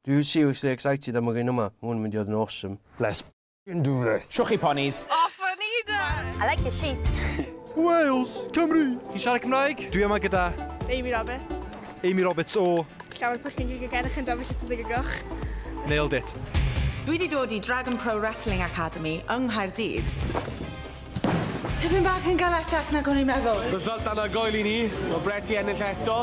Dwi seriously excited am yr un yma, ma hwn yn mynd i fod yn awesome. Let's f***ing do this! Shwch chi ponis! O funny dad! I like your sheep! Wales! Cymru! Chi'n siarad Cymraeg? Dwi yma gyda... Amy Roberts. Amy Roberts o... Llawer pwllgyn gig again a chi'n dofio lle sy'n ddig y goch. Nailed it. Dwi di dod i Dragon Pro Wrestling Academy yng Nghaerdydd. Tipyn bach yn galetach nag o'n i'n meddwl. Result anhygoel i ni, ma' Brett 'di ennill eto.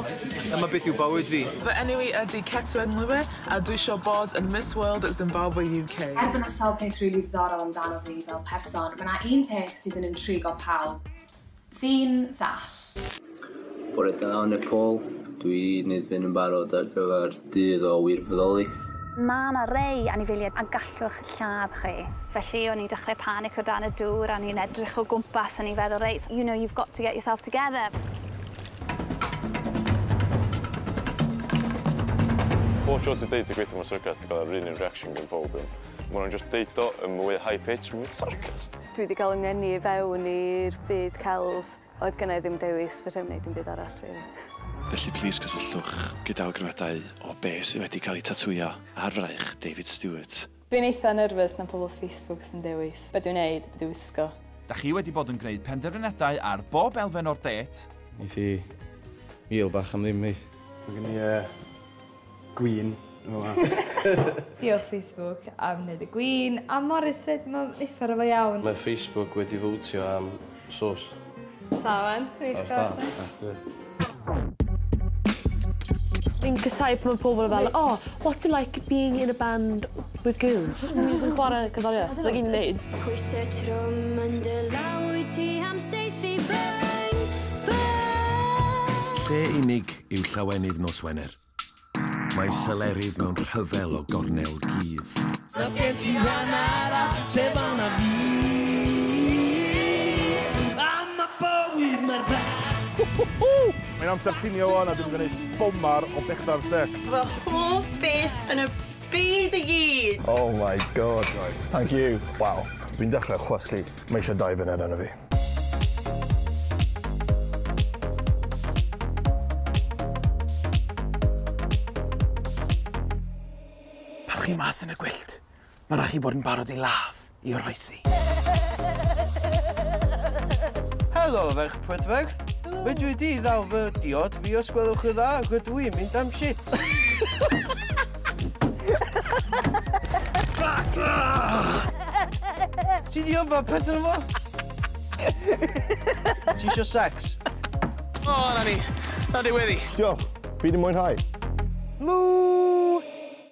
Dyma beth yw bywyd fi. Fy enw i ydi Ketua Nlube a dwisio bod yn Miss World Zimbabwe UK. Er bo 'na sawl peth rili ddiddorol amdano fi fel person, ma 'na un peth sydd yn intrigo pawb. Fi'n ddall. Bore da o Nepal. Dw i newydd fynd yn barod ar gyfer dydd o wirfoddoli. Mae yna rei anifeiliaid a gallwch lladd chi. Felly o'n i'n dechrau panic o dan y dŵr a o'n i'n edrych o gwmpas o'n i'n feddwl reit you know you've got to get yourself together. Pob tro ti'n deud ti'n gweithio mewn syrcas ti'n cael yr un un reaction gan pawb iawn. Mae nhw'n jyst deud o yn mwy high pitch, sarcastic. Dwi 'di cael 'y ngeni i fewn i'r byd celf. Oedd gennai ddim dewis, fedra i'm wneud dim byd arall rili. Felly plîs cysylltwch gyda awgrymiadau o be sydd wedi cael eu tatŵio ar fraich David Stewart. Dwi'n eitha nerfys na pobl Facebook sy'n dewis be dwi'n wneud, be dwi'n wisgo. Dach chi wedi bod yn gwneud penderfyniadau ar bob elfen o'r dêt? Neith hi mil bach am ddim neith? Mae gen i yy Gwin fel 'a. Diolch Facebook am neud y gwin a Morris 'fyd ma' uffar o fo iawn. Mae Facebook wedi fowtio am sos. Da ŵan. Reit da. Fi'n casau pan ma' pobol fel o what's it like being in a band with girls? Ni jys yn chware cerddorieth. 'na gyd ni'n neud. Pwyse trwm yn dy law wyt ti am saethu bang bang. Lle unig yw llawenydd nos Wener. Mae selerydd mewn rhyfel o gornel gudd. Os gen ti wan ara, te fan a fi. Am y bywyd mae'r bach. Mae'n amser cinio wan a dwi'n gwneud bomar o bechdar stec. Fy hoff beth yn y byd i gyd! Oh my God, thank you. Waw, fi'n dechrau chwaslu. Mae eisiau dau funud arno fi. Pan chi mas yn y gwyllt, mae rhaid chi bod yn barod i ladd i oroesi. Helo, ferch prydferth. Fedri di ddal fy diod fi os gwelwch yn dda, rydw i'n mynd am shit. Ti di yffa peth yn yfo? Ti isio sex? O, oh, na ni. Na di wedi. Diolch. Fi di mwynhau. Mŵ!